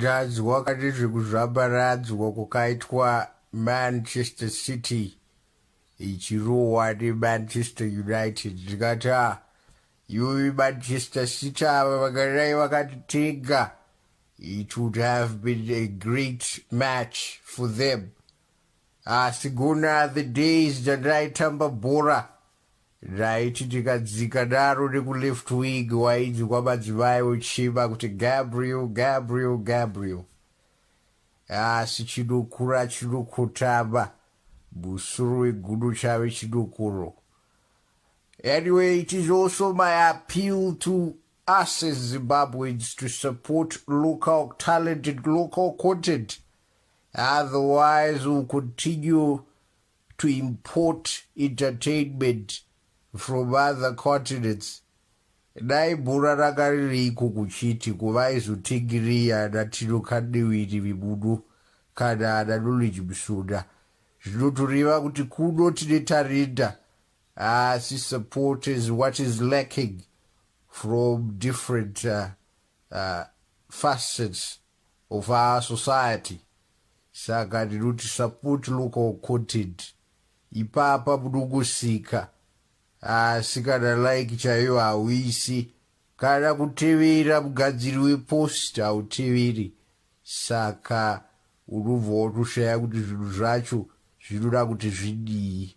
kutadzwa kati zvekuzvambaradzwa kwakaitwa manchester city ichirohwa nemanchester united ndikati a Yuwi but Sister Sita ava vakadai vakati tega it would have been a great match for them asi gona the days dzandaitamba bhora ndaiti ndikadzika daro nekuleft wing wainzwa madzimai ochima kuti Gabriel Gabriel Gabriel asi chinokura chinokotama musoro wegudo chave chinokoro Anyway, it is also my appeal to us as Zimbabweans to support local talent and local content. Otherwise, we'll continue to import entertainment from other continents. dai bhura ranga ririiko kuchiti kuvaizotingiria ana tino kadewiri vibudu kana ana knowledge musunda zvinotoreva kuti kuno tine tarenda Haasi supporters what is lacking from different facets of our society saka ndinoti support local content ipapa munongosika asi kana like chaiyo hauisi kana kutevera mugadziri wepost hauteveri saka unobva watoshaya kuti zvinhu zvacho zvinoda kuti zvidii